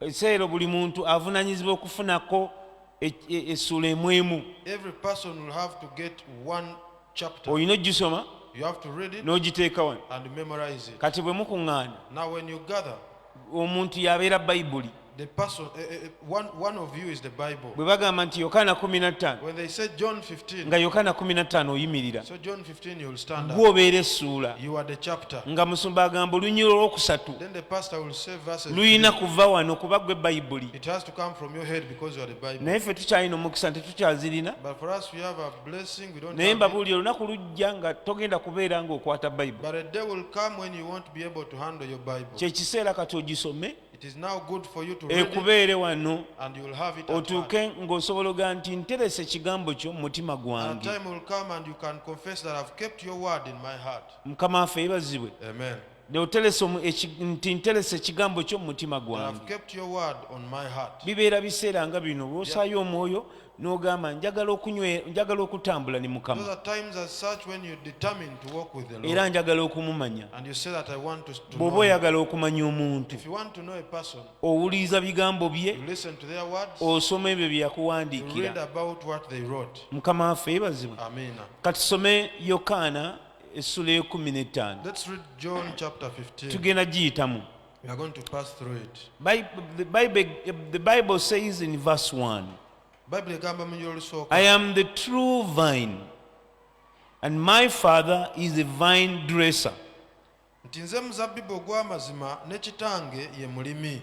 ekiseera buli muntu avunanyizibwa okufunako e, e, essuula emu emu olina ogisoma n'ogiteeka wano kati bwe mukuŋŋaana omuntu yabeera bayibuli The person, uh, one, one of you is the Bible. bwe bagamba nti yokaana 15 nga yokaana 15 oyimirira so John 15 gwobeera essuula nga musumba agamba olunyira olwokusatu lulina kuva wano kuba gwe bayibuli naye ffe tukyalina omukisa nti tukyazirina naye mbabuulira olunaku lujja nga togenda kubeera ngaokwata bayibuli kyekiseera kati ogisome ekubeere wano otuuke ng'osobola oga nti nterese ekigambo kyo mu mutima gwange mukama waffe yebazibwe nti nterese ekigambo kyo mu mutima gwange bibeera biseera nga bino bwosaayo omwoyo n'ogamba njagala okunywe njagala okutambula ne mukama Those are times as such when you're determined to walk with the Lord. era njagala okumumanya And you say that I want to, to bw'oba know. him. oyagala okumanya omuntu If you want to know a person, owuliriza bigambo bye you listen to their words, osoma ebyo bye you read yakuwandiikira about what they wrote. mukama waffe yebazibwe Amen. katusome yokaana essula ekumi n'ettaano Let's read John chapter 15. tugenda giyitamu We are going to pass through it. Bi- The Bible, the Bible says in verse 1 Bayibuli egamba mu I y'olusooka am the true vine, and my father is a vine dresser. nti nze muzabbibu ogw'amazima ne kitange ye mulimi.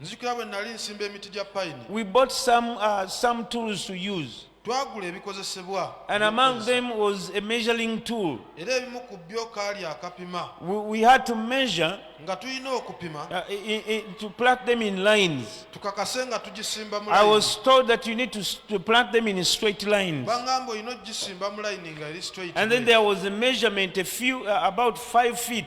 nzijukira bwe nnali nsimba emiti gya payini we bought some, uh, some tools to use twagula ebikozesebwa and among them was a measuring tool era ebimu ku byo kaali akapima we, we had to measure nga tulina okupima uh, i, i, to plant them in lines tukakase nga tugisimba i was told that you need to, to plant them in straight lines bangamba olina ogisimba mu line nga eri straight and then there was a measurement a few uh, about five feet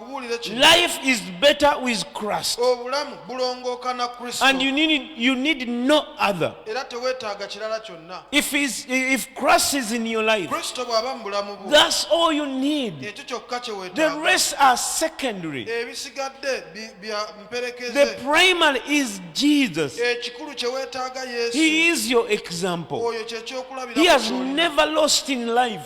kubuulira kino life is better with christ obulamu bulongooka na kristo and you need, you need no other era teweetaaga kirala kyonna if, is, if christ is in your life kristo bw'aba mu bulamu bwo that's all you need ekyo kyokka kye the weetaaga rest are secondary ebisigadde bi- bya the mperekeze primary is jesus ekikulu kye weetaaga yesu he is your example oyo kye he has kyokulabira never lost in life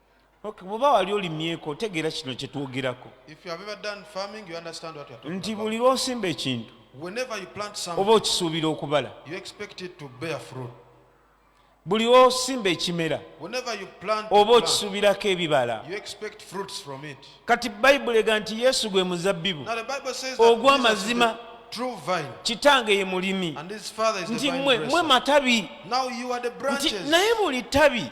Okay, bwoba wali olimyeko otegeera kino kye twogerako If you have ever done farming, you understand what we are talking nti about. buli lw'osimba ekintu Whenever you plant oba something, okisuubira okubala you expect it to bear fruit. buli lw'osimba ekimera Whenever you plant, a oba plant, okisuubirako ebibala you expect fruits from it. kati bayibuli ega nti yesu gwe muzabbibu Now the Bible says that Ogwa Jesus is the mazima. true vine, kitange ye mulimi and his father is the nti vine mwe mwe dresser. matabi Now you are the nti branches. naye buli ttabi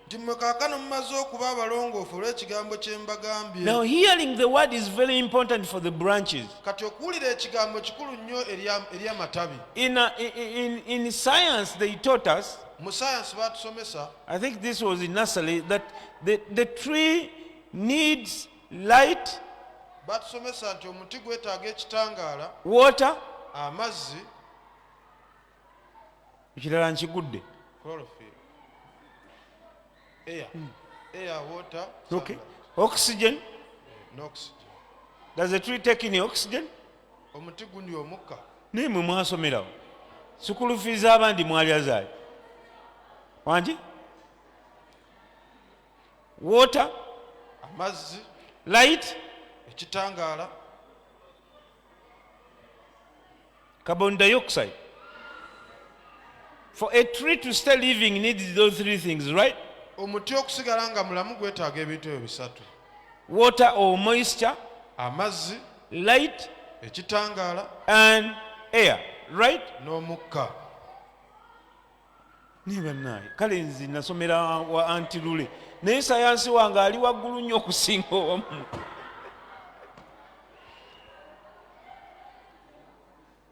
nti mmwe kaakano mumaze okuba abalongoofu olw'ekigambo kye mbagambye Now, hearing the word is very important for the branches. kati okuwulira ekigambo kikulu nnyo eri am- eri amatabi In, uh, i- i- in, in science, they taught us, mu sayansi baatusomesa I think this was in nursery, that the, the tree needs light, baatusomesa nti omuti gwetaaga ekitangaala water, amazzi ekirala nkigudde hmm. oxygen does the tree take in oxygen omuti gunywa omukka naye mwe mwasomerawo sukulu fiiza abandi mwalya zaali wangi water amazzi light ekitangaala carbon dioxide for a tree to stay living needs those three things right omuti okusigala nga mulamu gwetaaga ebintu ebyo bisatu water or moisture amazzi light ekitangaala and air right n'omukka naye banaye kale nzi nasomera wa anti lule naye sayansi wange ali waggulu nnyo okusinga owamu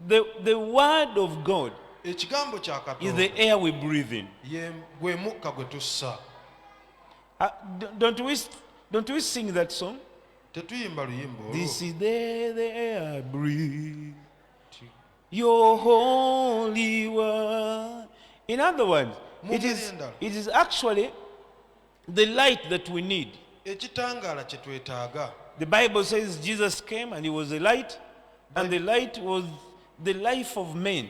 the, the word of god ekigambo is the air we breathe in gwe mukka gwe tussa ah, don't we, don't we sing that song tetuyimba luyimba this is the, the air breathe Your holy word. In other words, it is, it is actually the light that we need. Ekitangala kyetwetaga. The Bible says Jesus came and he was a light and the light was the life of men.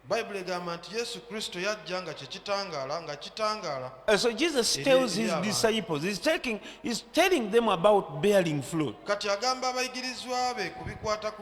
Bible egamba nti Yesu Kristo yajja nga kye kitangaala nga kitangaala. Uh, so Jesus tells his disciples, he's taking, he's telling them about bearing fruit. Kati agamba abayigirizwa be ku bikwata ku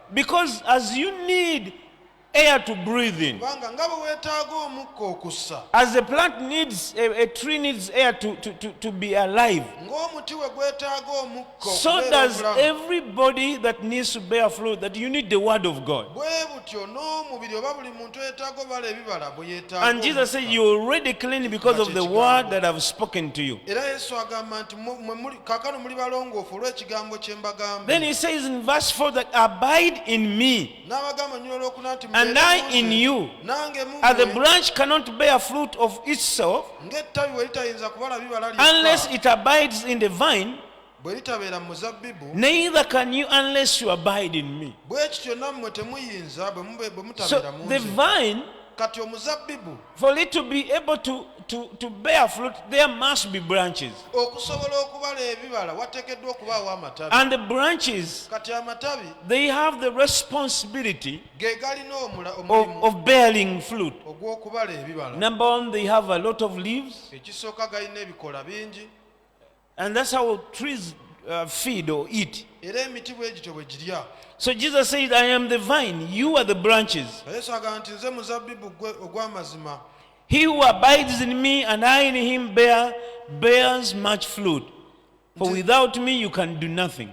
because as you need air to breathe in kubanga nga bwe weetaaga omukka okussa as a plant needs a, a tree needs air to, to, to, to be alive ng'omuti we gwetaaga omukka so okubeera does obulamu. everybody that needs to bear fruit that you need the word of god bwe butyo n'omubiri oba buli muntu eyetaaga obala ebibala bwe yeetaaga and jesus said omukka. you're already clean because of the word that i've spoken to you era yesu agamba nti kakano muli balongoofu olw'ekigambo kye mbagamba then he says in verse 4 that abide in me n'abagamba nnyina olwokuna nti and i in you nange as the branch cannot bear fruit of itself ng'ettabi bwe litayinza kubala bibala unless it abides in the vine bwe litabeera mu muzabbibu neither can you unless you abide in me bwe kityo nammwe temuyinza bwe mutabeera mu the vine kati omuzabbibu for it to be able to, to, to bear fruit there must be branches okusobola okubala ebibala wateekeddwa okubaawo amatabi and the branches kati amatabi they have the responsibility ge galina omula- of, omulimu of bearing fruit ogw'okubala ebibala number one they have a lot of leaves ekisooka galina ebikola bingi And that's how trees uh, feed or eat. era emiti bwe gityo bwe girya So Jesus said, I am the vine, you are the branches. nga yesu agamba nti nze muzabbibu gwe ogw'amazima He who abides in me and I in him bear, bears much fruit. For without me you can do nothing.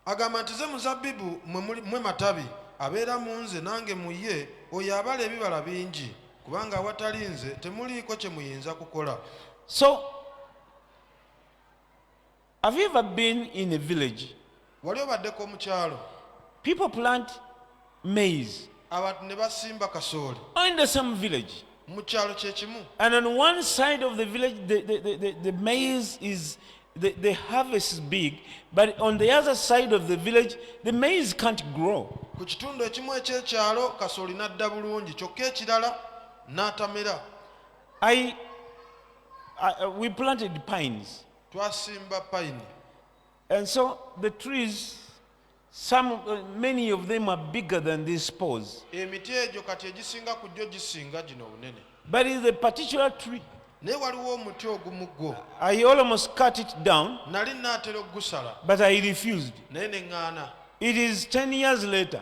agamba nti nze muzabbibu mwe muli- mwe matabi abeera mu nze nange mu ye oyo abala ebibala bingi kubanga awatali nze temuliiko kye muyinza kukola So Have you ever been in a village? Wali obaddeko mu kyalo? People plant maize. Abantu ne basimba kasooli. Or in the same village. Mu kyalo kye kimu. And on one side of the village the, the, the, the, the maize is the, the harvest is big but on the other side of the village the maize can't grow. Ku kitundu ekimu eky'ekyalo kasooli n'adda bulungi kyokka ekirala n'atamera. I, I, we planted pines. Twasimba pine. And so the trees, some, uh, many of them are bigger than these poles. Emiti egyo kati egisinga ku gyo gisinga gino obunene. But it's a particular tree. naye waliwo omuti ogumu gwo i almost cut it down nali naatera okugusala but i refused naye ne ŋŋaana it is 10 years later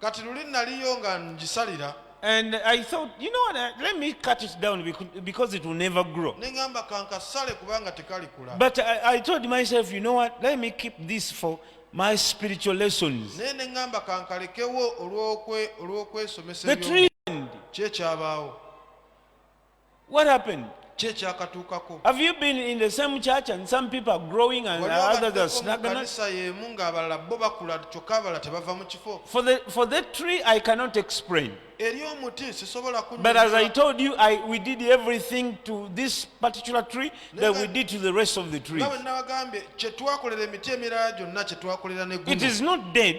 kati luli naliyo nga ngisalira And I thought, you know what, uh, let me cut it down becau- because it will never grow. ne ŋŋamba kankasale kubanga tekalikula But I, I told myself, you know what, let me keep this for my spiritual lessons. naye ne ŋŋamba kankalekewo olw'okwe- olw'okwesomesa The eby'omu- tree. kyekyabaawo What happened? kyekyakatuukako Have you been in the same church and some people are growing and Waliwo others are abaddeko mu stagnant? kanisa y'emu ng'abalala bo bakula kyokka abalala tebava mu kifo For the, for the tree, I cannot explain. eri omuti sisobola But as I kunyonyola told you, I, we did everything to this particular tree that we did to the rest of the trees. nga bwe nabagambye kye twakolera emiti emirala gyonna kye twakolera ne It guno is not dead,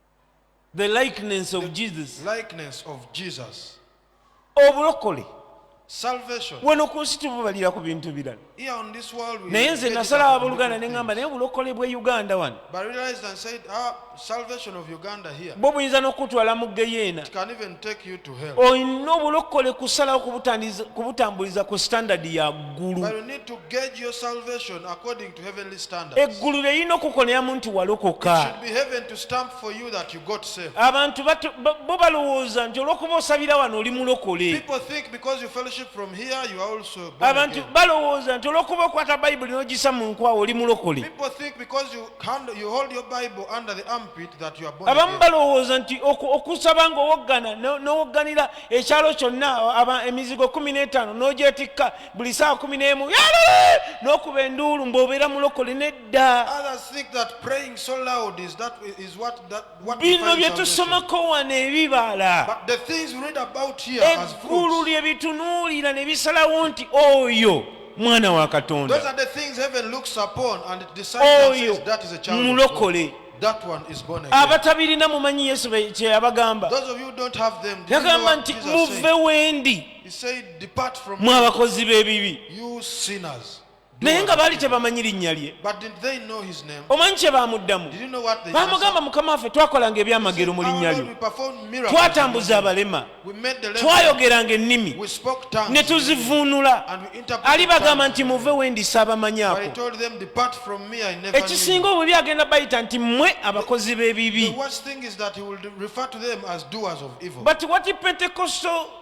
the likeness of jesus likeness of jesus obulokole wano ku nsi tububalira ku bintu birala naye nze nasala aboluganda neŋamba naye obulokole bwe uganda wano ah, bwe buyinza n'okutwala mu geyeena olina obulokole kusalawo kubutambuliza ku standard ya ggulu eggulu lyerina okukoneramu nti walokoka abantu bo balowooza nti olwokuba osabira wano oli mulokole abantu balowooza nti olwokuba okwata bayibuli nogisa mu nkwawo oli mulokole abamu balowooza nti okusaba nga owoggana nowogganira ekyalo kyonna emizigo kumi n'etaano nogyetikka buli saa kumi n'emu n'okuba enduulu mbobeera mulokole nedda bino bye tusomako wano ebibala eggulu lye bitunuulira ne bisalawo nti oyo mwana wa katonda oyo mulokole abatabirina mumanyi yesu kyeyabagamba yagamba nti muve wendi mwe abakozi b'ebibi naye nga baali tebamanyi linnya lye omanyi kye baamuddamu baamugamba mukama waffe twakolanga ebyamagero mu linnya lyo twatambuza abalema twayogeranga ennimi ne tuzivuunula ali bagamba nti muve wendi saabamanyako ekisinga obubi agenda bayita nti mmwe abakozi b'ebibi but what pentecostal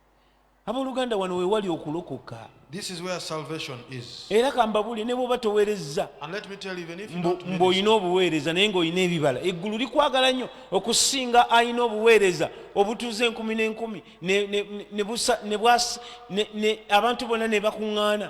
abooluganda wano we wali okulokoka era kambabuli ne bwoba towerezza mbw'olina obuweereza naye ng'olina ebibala eggulu likwagala nnyo okusinga alina obuweereza obutuuza enkumi n'enkumi abantu bonna ne bakuŋŋaana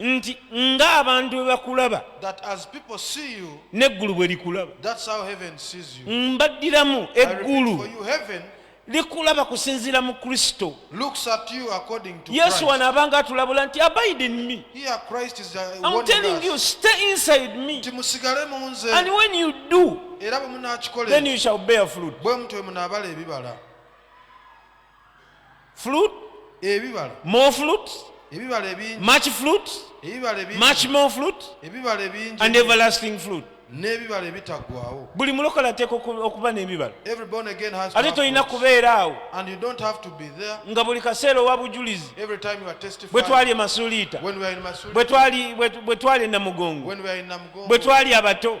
nti ng'abantu bwe bakulaba n'eggulu bwe likulaba mbaddiramu eggulu likulaba kusinziira mu kristo yesu wano abanga atulabula nti abide in me I'm telling you stay inside me and when you do then you shall bear fruit fruit ebibala more fruit ebibala ebingi much fruit ebibala ebingi much more fruit ebibala ebingi and everlasting fruit n'ebibala ebitaggwawo buli mulokola ateeka okuba n'ebibala ate tolina kubeera awo nga buli kaseera owa bujulizi bwe twali emasuliita bwe twali e namugongo bwe twali abato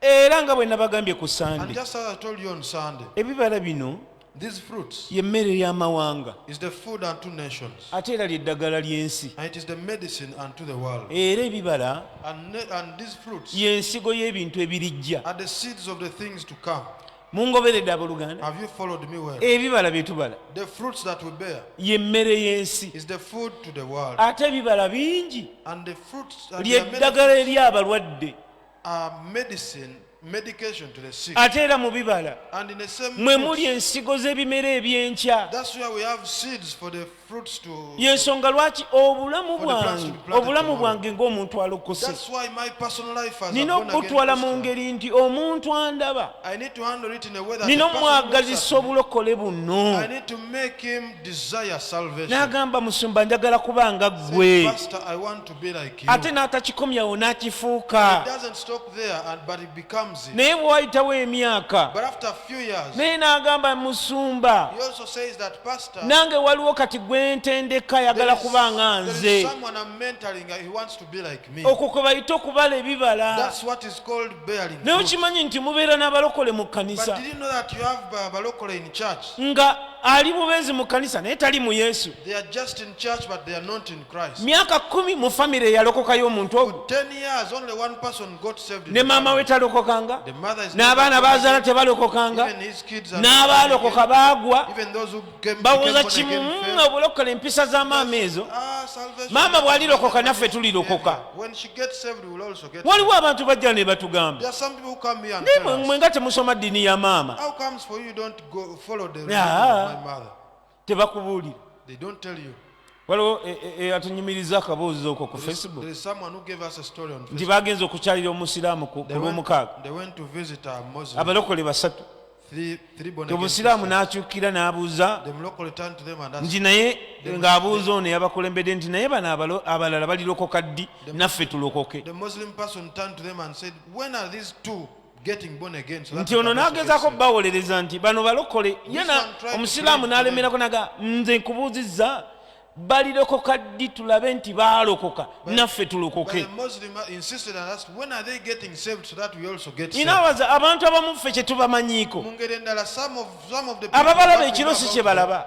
era nga bwe nabagambye ku sande ebibala bino y'emmere y'amawanga ate era ly'eddagala ly'ensi era ebibala y'ensigo y'ebintu ebirijja mungoberedde abooluganda ebibala bye tubala y'emmere y'ensi ate ebibala bingi ly'eddagala eri abalwadde ate era mu bibala mwe muli ensigo z'ebimera eby'enkya yensonga lwaki obulamu bwange obulamu bwange ng'omuntu alokose nina okubutwala mu ngeri nti omuntu andaba nina omwagazisa obulokole buno n'agamba musumba njagala kubanga ggwe ate n'atakikomyawo n'akifuuka naye bwe wayitawo emyaka naye n'agamba musumba nange waliwo kati gwe ntendeka ayagala kuba nga nze okwo kwe bayita okubala ebibala naye okimanyi nti mubeera n'abalokole mu kkanisa nga ali bubeezi mu kkanisa naye tali mu yesu myaka kumi mu famire yalokokayo omuntu omu ne maama we talokokanga n'abaana bazaala tebalokokanga n'abaalokoka baagwa bawoza kimu mm, obulokola empisa za maama ezo ah, maama bw'alirokoka naffe tulirokoka waliwo abantu bajja ne batugamba naye mwe nga temusoma ddiini ya maama tebakubuulira They don't tell you. waliwo e- e- eyatunyumiriza akaboozi okwo ku There is, facebook there is someone who gave us a story on nti Facebook. bagenze okukyalira omusiraamu ku ku They went, lwomukaaga they went to visit a Muslim. abalokole basatu Three, three born again obusiraamu Christians. n'akyukira n'abuuza The Mulokole turned to them and asked, nti naye ng'abuuza ono eyabakulembedde nti naye bano abalo- abalala balirokoka ddi naffe tulokoke The Muslim person turned to them and said, When are these two nti ono n'agezaako bawolereza nti bano balokole yena omusiraamu n'alemerako naga nze nkubuuzizza balirokoka ddi tulabe nti baalokoka naffe tulokoke inawaza abantu abamu ffe kyetubamanyiiko ababalaba ekiro si kyebalaba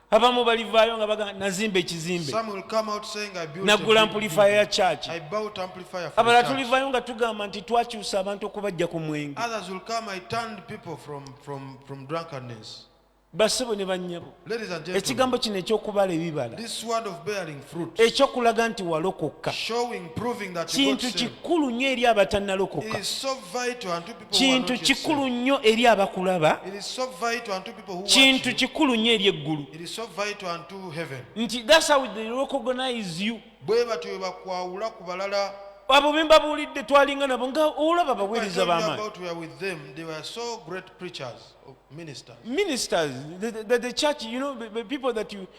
abamu balivaayo nga baga nazimba ekizimbe nagula ampulifaya ya church abala tulivaayo nga tugamba nti twakyusa abantu okubajja ku mwenge basebo ne bannyabo ekigambo kino ekyokubala ebibala ekyokulaga nti walokokka kintu kikulu nnyo eri abatannalokoka kintu kikulu nnyo eri abakulaba kintu kikulu nnyo eri eggulu nti thats how they recognize you bwe batyo bwe bakwawula ku balala abo be mbabuulidde twalinga nabo nga olaba abaweereza b'amaanyi ministers the, the, the church you know the, the people that you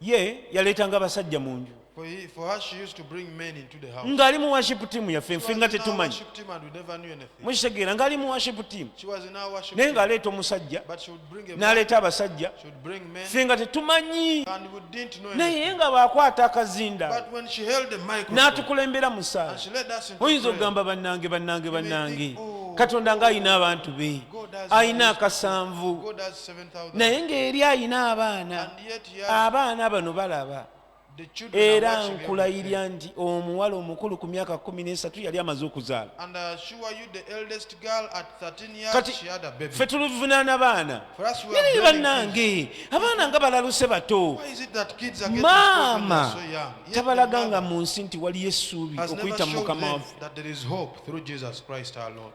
ye yaleetanga abasajja mu nju ng'ali mu worship team yaffe nfe nga tetumanyi mukitegeera ng'ali mu worship team naye ng'aleeta omusajja n'aleeta abasajja ffe nga tetumanyi naye nga baakwata akazinda n'atukulembera mu saala oyinza okugamba bannange bannange bannange oh. katonda ng'alina abantu be alina akasanvu naye ng'eri alina abaana abaana bano balaba era nkulayirya nti omuwala omukulu ku myaka kumi n'esatu yali amaze okuzaala kati ffe tuluvunaana baana naye bannange abaana nga balaluse bato maama tabalaga nga mu nsi nti waliyo essuubi okuyita mu mukama waffe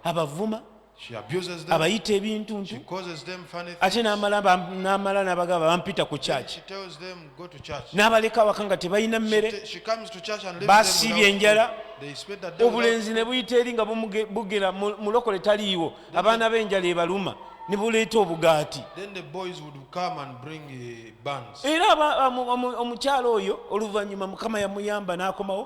abavuma abayita ebintuntu ate n'amala n'abagamba bampita ku kyaki n'abaleka awaka nga tebalina mmere basiibye enjala obulenzi ne buyita eri nga bugera mulokole taliiwo abaana b'enjala ebaluma ne buleeta obugaati era omukyalo oyo oluvannyuma mukama yamuyamba n'akomawo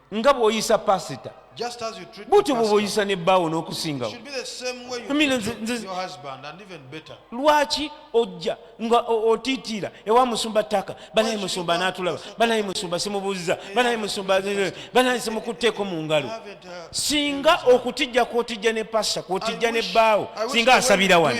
nga bwoyisa pasita butyo bwoboyisa ne bbaawo n'okusingawo lwaki ojja nga otiitiira ewa musumba ttaka banaye musumba n'atulaba banaye musumba simubuuziza banaye musumba banaye simukutteeko mu ngalo uh, singa okutijja kwotijja ne pasita kwotijja ne bbaawo singa asabira wano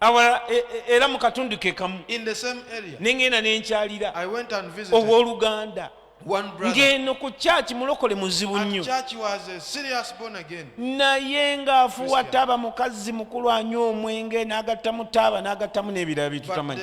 awala e, e, era mu katundu ke kamu ne ŋŋenda ne nkyalira ow'oluganda ng'eno ku kyaki mulokole muzibu nnyo naye ng'afuwa taaba mukazi mukulu anywa omwenge n'agattamu taaba n'agattamu n'ebirala bye tutamanyi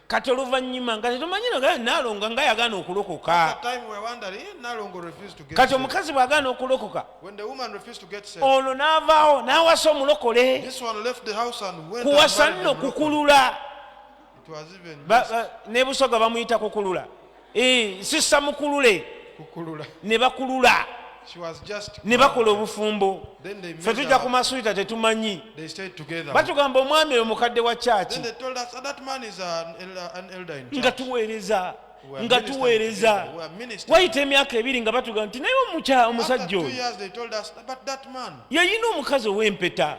kati oluvannyuma nga tetumanyi nogala nalonga nga yagaana okulokoka kati omukazi bw'agaana okulokoka ono n'avaawo n'awasa omulokole kuwasa nno kukulula ne busoga bamuyita kukulula Eh, sisa mukulule ne bakulula ne bakola obufumbo fe tujja ku masuita tetumanyi batugamba omwami oyo mukadde wa kyaki nga tuweereza nga tuweereza wayita emyaka ebiri nga batugamba nti naye omusajja oyo yayina omukazi ow'empeta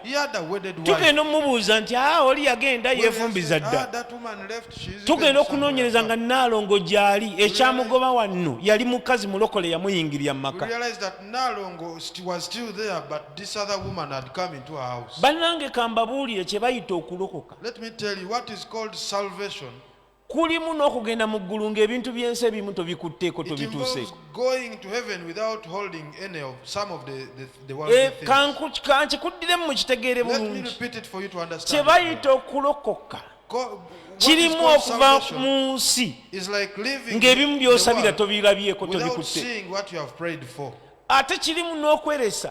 tugenda omumubuuza nti a ah, oli yagenda yefumbiza dda ah, tugenda okunoonyereza nga naalongo gyali ekyamugoba wanno yali mukazi mulokole yamuyingirira mumaka bannange kambabuulire kye bayita okulokoka kulimu n'okugenda mu ggulu ng'ebintu by'ensi ebimu tobikutteko tobituuseeko kankikuddiremu mu kitegeere bulungi kye bayita okulokoka kirimu okuva mu nsi ng'ebimu by'osabira tobirabyeko tobikutte ate kirimu n'okweresa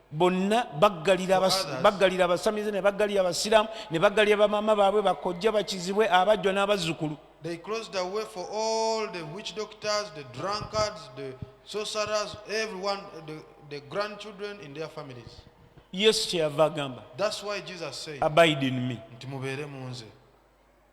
bonna baggalira baggalira abasamize ne baggalira abasiraamu ne baggalira bamaama baabwe bakojja bakizibwe abajjwa n'abazzukulu They closed the way for all the witch doctors, the drunkards, the sorcerers, everyone, the, the grandchildren in their families. Yes, That's why Jesus said, Abide in me.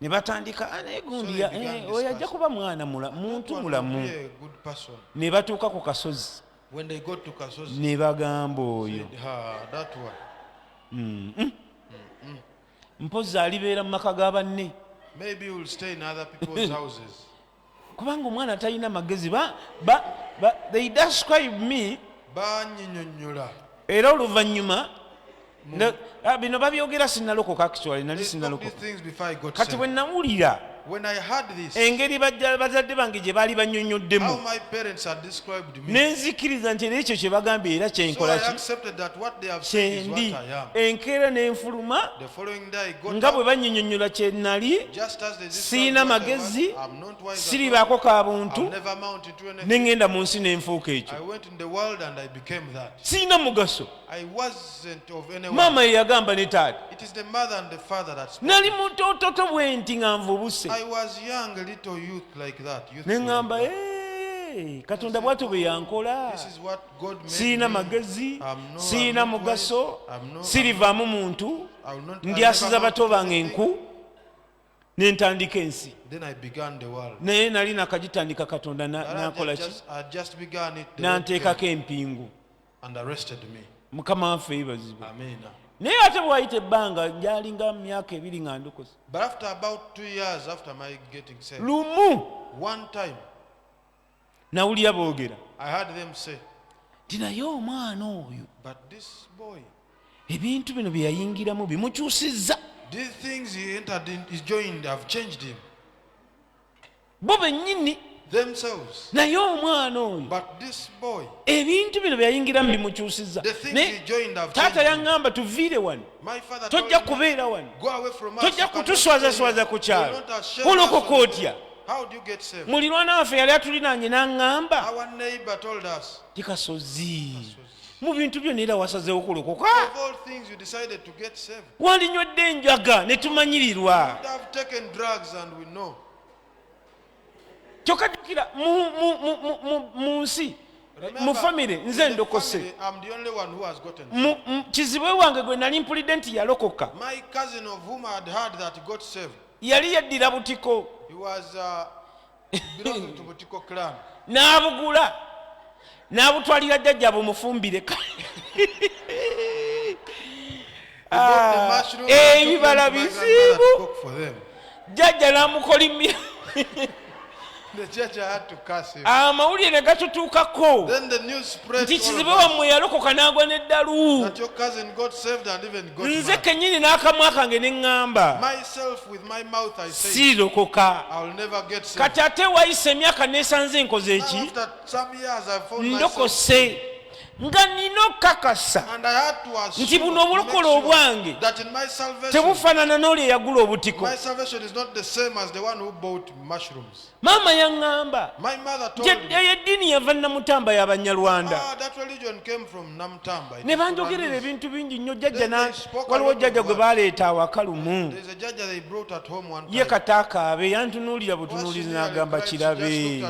ne batandika ah, naye gundi eh, oyo ajja kuba mwana muntu mulamu ne batuuka ku kasozi ne bagamba oyo mm, mm. Mm, mpozi alibeera mu maka ga banne kubanga omwana atalina magezi ba, ba, ba, they describe me banyinyonyola era oluvannyuma ah, bino babyogera sinalokoka actually nali sinalokokati bwe nawulira engeri bazadde bange gye baali banyonyoddemu nenzikiriza nti era ekyo kyebagambye era kyenkolakyendi enkeera nenfuluma nga bwe banyinyonyola kyenali sirina magezi siribaako ka buntu nengenda mu nsi nenfuuka ekyo sirina mugaso maama ye yagamba ne taata nali mutototo bwe nti nga nvubuse ne ŋŋamba katonda bwatyo bwe yankola sirina magezi sirina mugaso sirivaamu muntu ndyasiza bato bange enku nentandika ensi naye nali nakagitandika katonda nakolaki nanteekako empingu and arrested me. mukama waffe yebazibwe Amina. naye ate bwayita ebbanga gyalinga myaka ebiri nga ndukusa But after about two years after my getting saved, lumu one time nawulira boogera I heard them say, nti naye omwana oyo But this boy, ebintu bino bye yayingiramu bimukyusizza these things he entered in, he joined, have changed him. bo bennyini naye omwana oyo ebintu bino byeyayingiramu bimukyusiza taata yaŋŋamba tuviire wano tojja kubeera wano tojja kutuswazaswaza ku kyalo kulokoka otya mulirwana waffe yali atulinaanye n'aŋŋamba tikasozi mu bintu byona era wasazeewo kulokoka walinywedde enjaga ne tumanyirirwa kyokka jukira mu nsi mu famire nze ndokose kizibwe wange gwe nali mpulidde nti yalokoka yali yaddira butiko uh, n'abugula n'abutwalira jjajja bumufumbire ah, ebibala eh, bizibu jjajja n'amukolimira amawulire ne gatutuukako nti kizibe wammwe yalokoka n'agwa n'eddalu nze kennyini n'akamwa kange ne ŋŋamba siirokoka kati ate wayise emyaka neesanze enkoze eki ndokose nga nina okukakasa nti buno obulokole obwange tebufaanana n'oli eyagula obutiko maama yaŋŋamba eyo eddiini yava namutamba y'abanyarwanda ah, ne banjogerera ebintu bingi nnyo jjajja waliwo jjajja gwe baleeta awaka lumu ye kataakaabe yantunuulira butunuulizi n'agamba kirabe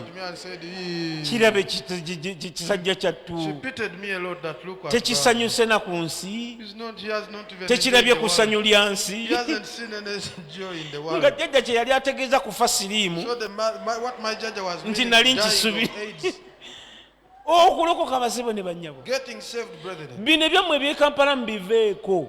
kirabe kisajja kyattu tekisanyuse na ku nsi tekirabye kusanyu lya nsi nga jjajja kye yali ategeeza kufa siriimu nti nali nkisubi okulokoka abazibu ne bannyabo bino ebyammwe ebyekampala mubiveeko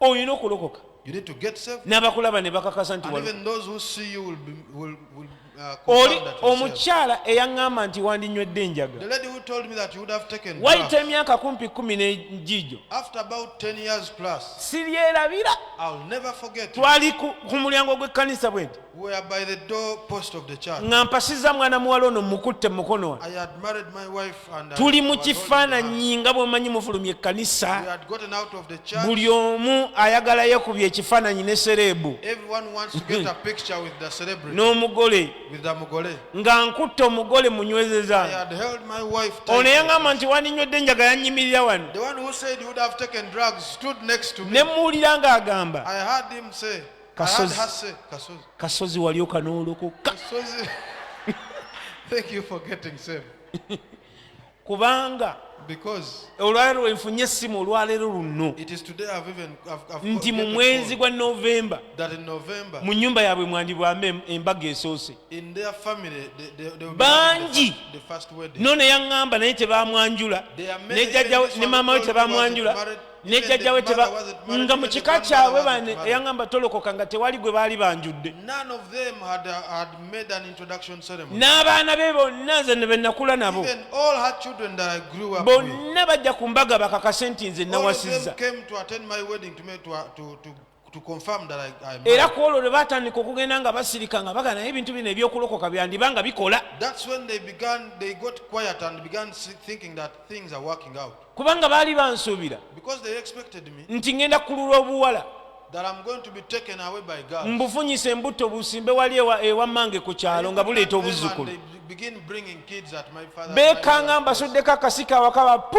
olina okulokoka n'abakulaba ne bakakasa nti oli omukyala eyaŋŋamba nti wandinywedde enjaga wayita emyaka kumpi kumi n'egiijo siryerabira twali ku mulyango gw'ekkanisa bwe nti nga mpasiza mwana muwala ono mukutte mukono ono tuli mu kifaananyi nga bwemanyi mufulumya ekkanisa buli omu ayagala yekubya ekifaananyi ne sereebu n'omugole nga nkutte omugole munywezeza ono yaŋamba nti waninywedde enjaga yanyimirira wano ne muwulira ng'agamba Kasozi. Kasozi. Kasozi. Kasozi wali okanooloko. Kasozi. Thank you for getting saved. Kubanga olwaleero wenfunye essimu olwaleero luno nti mu mwezi gwa novemba mu nyumba yaabwe mwandibwamba embaga esoose bangi no neyaŋŋamba naye tebamwanjula ne maama we tebamwanjula ne jjajja we teba nga mu kika kyabwe bane eyaŋamba tolokoka nga tewali gwe baali banjudde n'abaana be bonna nze ne benakula nabo bonna bajja ku mbaga bakakase nti nze nawasizza era ku olwo lwe baatandika okugenda nga basirika nga bagana naye ebintu bino ebyokulokoka byandiba nga bikola kubanga baali bansuubira nti ŋenda kululwa obuwala mbufunyise embutto busimbe wali ewammange ku kyalo nga buleeta obuzzukulu beekanga mbasuddeko akasika awaka bapu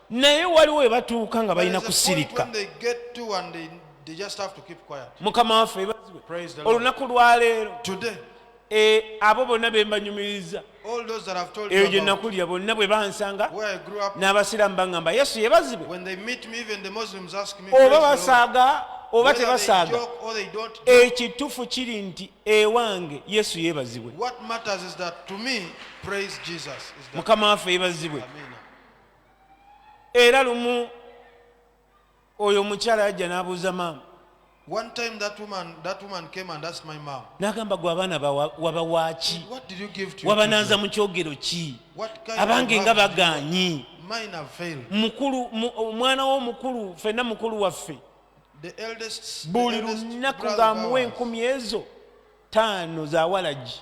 naye waliwo webatuuka nga balina kusirika mukama waffe olunaku lwaleero eh, abo bonna bembanyumiriza eyo gye nakulira bonna bwe bansanga n'abasiraamu baŋŋamba yesu yebazibwe oba basaaga oba tebasaaga ekituufu kiri nti ewange yesu yebazibwe mukama waffe yebazibwe era lumu oyo omukyala yajja n'abuuza maama One time that woman, that woman came and asked my mom, n'agamba gwe abaana bawa- wabawaaki What did you give to your wabanaaza children? mu kyogero ki What kind abange of nga love did you want? bagaanyi Mine have failed. mukulu mu- omwana wo omukulu ffenna mukulu waffe The eldest, the buli eldest lunaku brother of ng'amuwa ours, enkumi ezo taano za walagi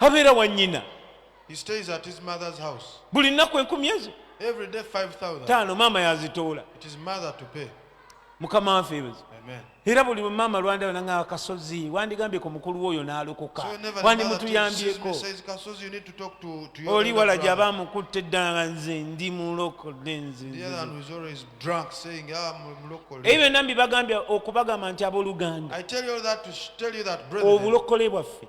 abeera wa nnyina buli nnaku enkumi ezo taano maama yazitoola mukama wanfe ebezo era buli maama lwanda yona nga kasozi wandigambye ku mukulu woyo n'alokoka wandimutuyambyeko oli wala gyaba amukutte eddala nga nze ndi mulokole nzeebyo byonna mbibagambye okubagamba nti abooluganda obulokole bwaffe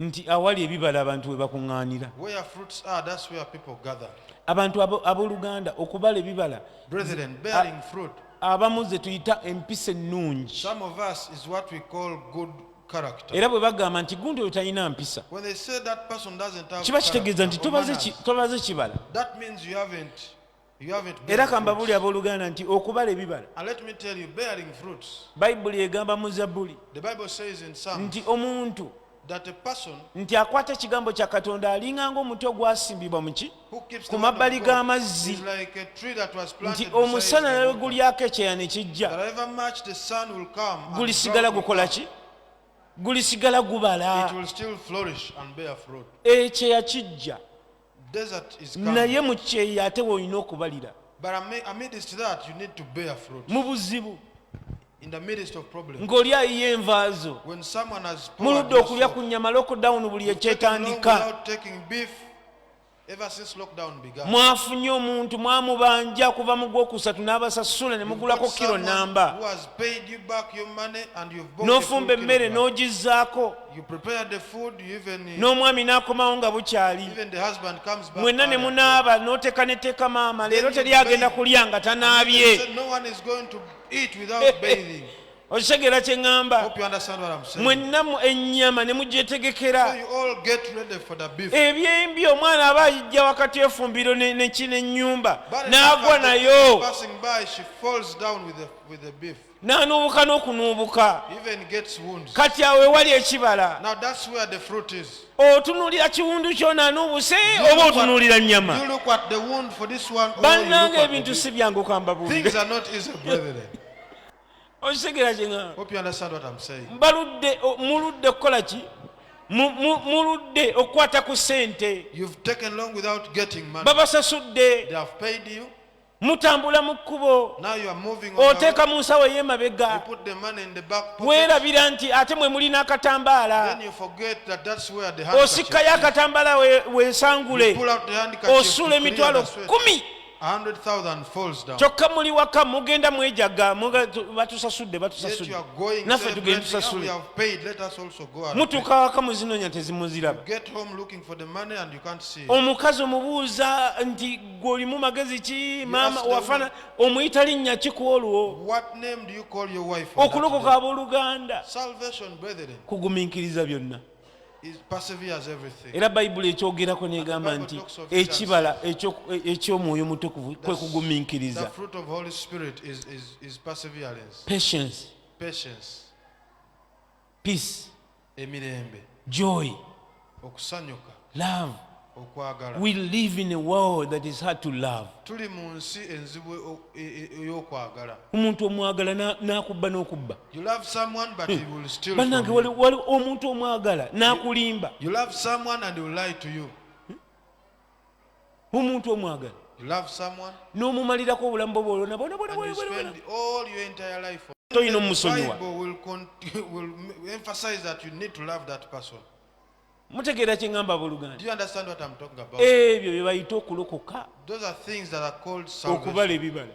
nti awali ebibala abantu we bakuŋŋaanira Where fruits are, that's where people gather. abantu abo- abooluganda okubala ebibala Brethren, bearing fruit. abamu ze tuyita empisa ennungi Some of us is what we call good character. era bwe bagamba nti gundi oyo talina mpisa When they say that person doesn't have kiba kitegeeza nti character or tobaze manners, ki- tobaze kibala that means you haven't era kambabuli abooluganda nti okubala ebibala bayibuli egamba mu zabbuli nti omuntu nti akwata ekigambo kya katonda alinganga omuti ogwasimbibwa muki ku mabbali g'amazzi nti omusana nawe gulyako ekyeya ne kijja gulisigala gukola ki gulisigala gubala ekyeya kijja naye mu kyeya ate woolina okubalira mu buzibu ng'oli ayiye envaazo mu ludde okulya ku nnyama lockdown buli ekyetandika mwafunye omuntu mwamubanja kuva mu gwokusatu n'abasasula ne mugulako kiro namba n'ofumba emmere n'ogizzaako You prepared the food, you even, uh, n'omwami n'akomawo nga bukyali even the husband comes back. mwenna ne early. munaaba n'oteeka neteeka maama leero teri agenda kulya nga And they tanaabye said, No one is going to eat without bathing. okitegeera kye ŋŋamba Hope you understand what I'm saying. mwenna mu- ennyama ne So mugyetegekera you all get ready for the beef. ebyembi omwana aba ayijja wakati efumbiro ne- ne- ki- n'ennyumba But n'agwa as the nayo person passing by, she falls down with the, with the beef. n'anuubuka n'okunuubuka kati awo ewali ekibala otunuulira kiwundu kyona anuubuse oba otunuulira nnyama bannanga ebintu si byangu kamba buude okitegeera kyebaludde muludde kukola ki muludde okukwata ku ssente babasasudde mutambula mu kkubo oteeka mu nsawo ey'emabega weerabira nti ate mwe mulina akatambaala osikkayo akatambaala wensangule osuula emitwalo kumi kyokka muli waka mugenda mwejaga batusasudde batusasudde naffe tugende tusasule mutuuka waka muzinonya tezimuziraba omukazi omubuuza nti gwe olimu magezi ki maama wafana omuyita linnya ki ku olwo okulokoka abooluganda kugumiikiriza byonna era bayibuli ekyogerako negamba nti ekibala eky'omwoyo mutukuvu kwe kugumiikiriza peace emirembe joy okusanyuka love okwagala we live in a world that is hard to love tuli mu nsi enzibu e- e- ey'okwagala omuntu omwagala na- n'akubba n'okubba you love someone but he will steal bannange from wali you. wali omuntu omwagala n'akulimba you love someone and he will lie to you omuntu omwagala n'omumalirako obulamu bwo bwolonabonabonatoyina omusonyiwa mutegeera kye ŋamba abooluganda ebyo bye bayita okulokoka okubala ebibala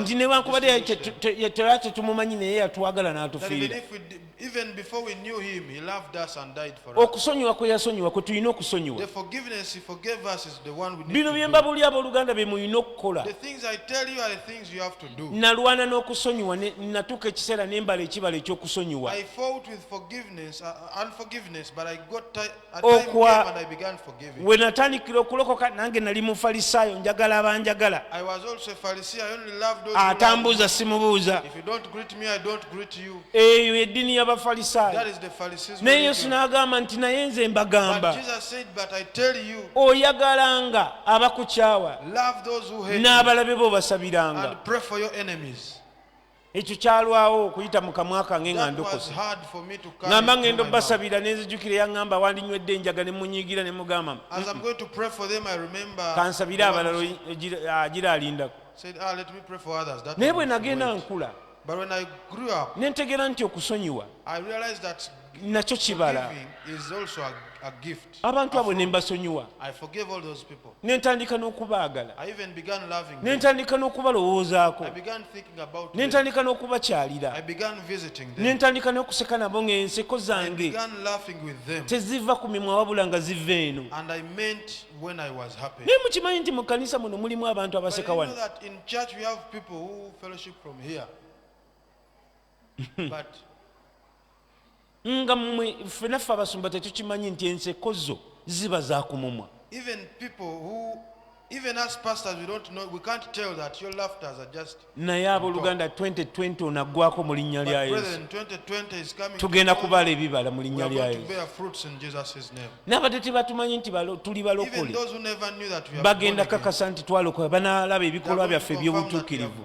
nti newankubadde yatera tetumumanyi naye yatwagala n'atufiira okusonyiwa kwe yasonyiwa kwe tulina okusonyiwa bino bye mbabuli abooluganda bye mulina okukola nalwana n'okusonyiwa natuuka ekiseera nembala ekibala ekyokusonyiwa uh, we natandikira okulokoka nange nali mufalisaayo njagala abanjagala atambuuza simubuuza eyo eddiini y'abafalisaayo naye yesu n'agamba nti naye nze mbagamba oyagalanga abakukyawa n'abalabe bo basabiranga ekyo kyalwawo okuyita mu kamwa kange nga ndokose ŋamba ŋenda obbasabira ne nzijukira yaŋamba wandinywedde enjaga ne munyiigira ne mugamba kansabire abalala agira alindako naye bwe nagenda nkula ne ntegeera nti okusonyiwa nakyo kibala abantu abo ne mbasonyiwa ne ntandika n'okubaagala ne ntandika n'okubalowoozaako ne ntandika n'okubakyalira ne ntandika n'okuseka nabo ng'enseko zange teziva ku mimwa wabula nga ziva eno naye mukimanyi nti mu kkanisa muno mulimu abantu abaseka wano nga mwe ffe naffe abasumba tetukimanyi nti enseko zo ziba zakumumwa naye abooluganda 2020 onaggwako mu linnya lya yesu tugenda kubaala ebibala mu linnya lya yesu n'abadde tebatumanyi nti tuli balokole bagenda kakasa nti twalokola banaalaba ebikolwa byaffe eby'obutuukirivu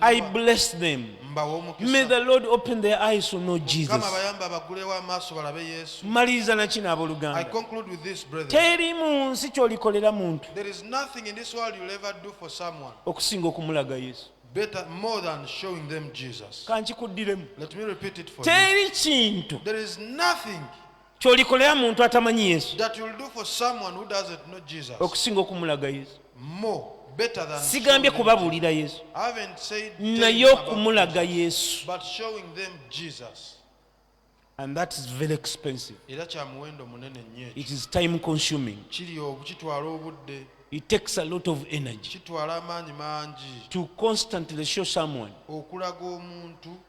I bless them. May the Lord open their eyes to know Jesus. Maliriza na kino abooluganda. Teri mu nsi ky'olikolera muntu okusinga okumulaga Yesu. Better, more than showing them Jesus. Let me repeat it for you. There is nothing kyolikolera muntu atamanyi yesu okusinga okumulaga yesu sigambye kubabuulira yesu naye okumulaga yesu and that is very expensive era kya muwendo munene nnyo it is time consuming kiri okukitwala obudde it takes a lot of energy kitwala amaanyi mangi to constantly show someone okulaga omuntu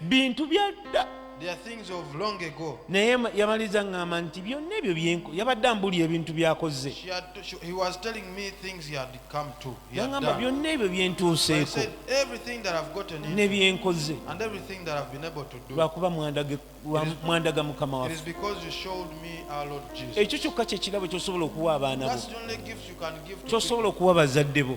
bintu byadda naye yamaliza ŋŋamba nti byonna ebyo byenko yabadde ambuulira ebintu byakozze yaŋamba byonna ebyo byentuuseeko ne byenkoze lwakuba mwandaga mukama wa ekyo kyokka kyekirabo kyosobola okuwa abaana bo kyosobola okuwa bazadde bo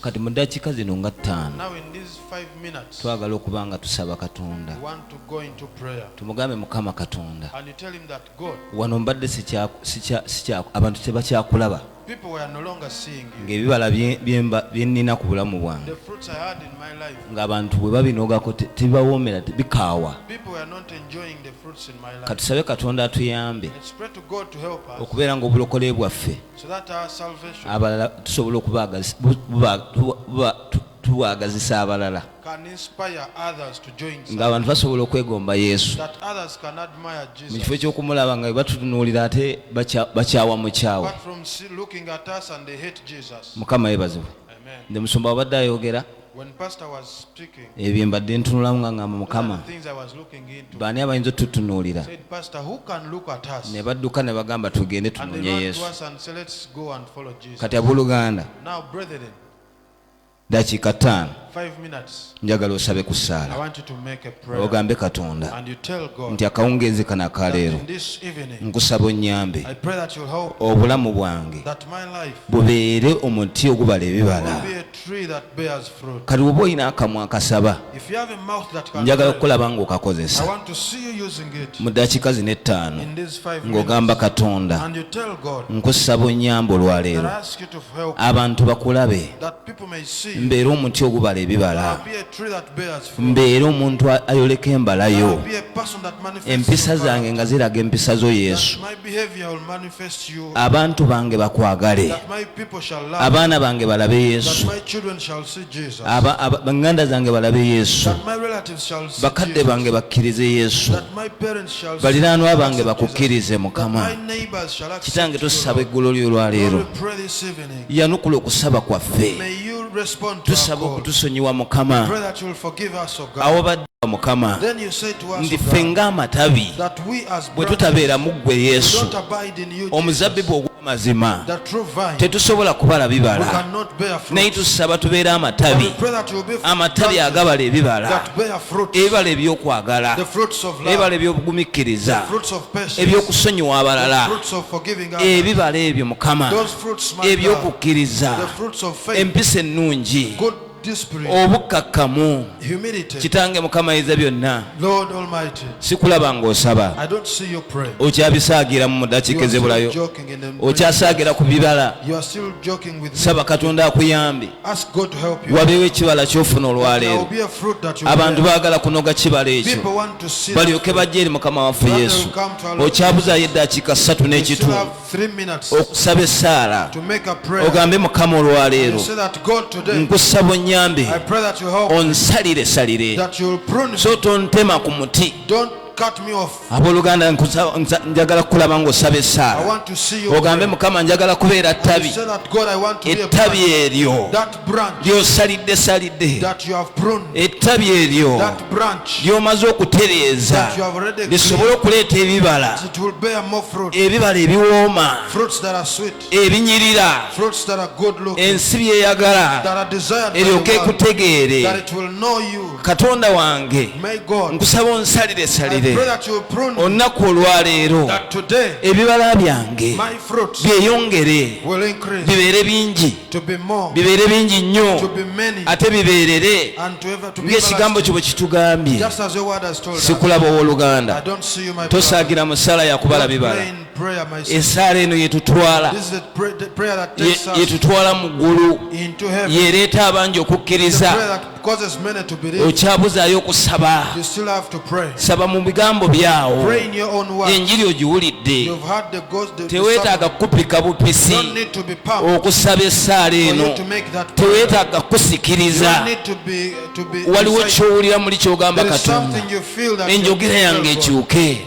kati mu ddakiika zino nga ttaano twagala okuba nga tusaba katonda tumugambe mukama katonda wano mbadde abantu tebakyakulaba ng'ebibala byennina ku bulamu bwange ng'abantu bwe babinogako tebibawoomera bikaawa katusabe katonda atuyambe okubeera ng'obulokole bwaffe abalala tusobola okubagazisa abalala ngaabantu basobola okwegomba yesu mu kifo ekyokumulaba nga batutunuulira ate bakyawa mukyawa mukama yebazibwe nze musumba wabadde ayogera ebyo mbadde ntunulamu nga ngamba mukama baani abayinza otutunuulira ne badduka ne bagamba tugende tunonye yesu kati abooluganda dakiika ttaano njagala osabe ku ssaala ogambe katonda nti akawungeezi kano akaleero nkusaba onnyambe obulamu bwange bubeere omuti ogubala ebibala kati oba olina akamwa akasaba njagala okukulaba ngaokakozesa mu dakiika zino ettaano ng'ogamba katonda nkusaba onyamba olwaleero abantu bakulabe mbeera omuti ogubala ebibala mbeera omuntu ayoleka embalayo empisa zange nga ziraga empisa zo yesu abantu bange bakwagale abaana bange balabe yesu baŋŋanda zange balabe yesu bakadde bange bakkirize yesu baliraanwa bange bakukkirize mukama kitange tusaba eggulo lyo olwaleero yanukula okusaba kwaffe tusaba okutusonyiwa mukama awobadde mukama nti ffe ng'amatabi bwe tutabeera mu ggwe yesu omuzabbibu ogw'amazima tetusobola kubala bibala naye tusaba tubeere amatabi amatabi agabala ebibala ebibala ebyokwagala ebibala ebyobugumikkiriza ebyokusonyiwa abalala ebibala ebyo mukama ebyokukkiriza empisa ennungi obukkakkamu kitange mukama ayinza byonna sikulaba ng'osaba okyabisaagiramu mu dakiika ezebulayo okyasaagira ku bibala saba katonda akuyambe wabeewo ekibala kyofuna olwaleero abantu baagala kunoga kibala ekyo balyoke bajja eri mukama waffe yesu okyabuzayo eddakiika ssatu n'ekitundu okusaba essaala ogambe mukama olwaleero nkusaba onyambe onsalire salire so tontema ku muti abooluganda njagala kukulaba ngaosaba essaala ogambe mukama njagala kubeera ttabi ettabi eryo ly'osalidde salidde ettabi eryo ly'omaze okutereeza lisobole okuleeta ebibala ebibala ebiwooma ebinyirira ensi byeyagala eryoke ekutegeere katonda wange nkusaba onsalire salire olunaku olwaleero ebibala byange byeyongere bibeere bingi bibeere bingi nnyo ate bibeerere ng'ekigambo kyo bwe kitugambye sikulaba ow'oluganda tosaagira mu ssaala yakubala bibala esaala eno yetutwala yetutwala mu ggulu yereeta abangi okukkiriza okyabuzaayo okusaba saba mu bigambo byawo enjiri ogiwulidde teweetaaga kukupika bupisi okusaba essaala eno teweetaaga kukusikiriza waliwo kyowulira muli kyogamba katonda enjogera yange ekyuke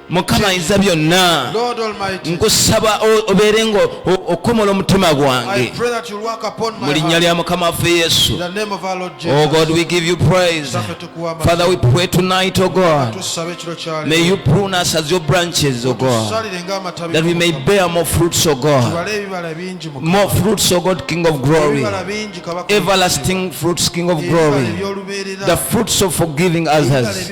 mukama ayinza byonna nkusaba obeere nga okomola omutima gwange mu linnya lya mukama waffe yesu oh god we give you praise father we pray tonight o oh god may you prune us as your branches o oh god that we may bear more fruits o oh god more fruits o god king of glory everlasting fruits king of glory the fruits of forgiving others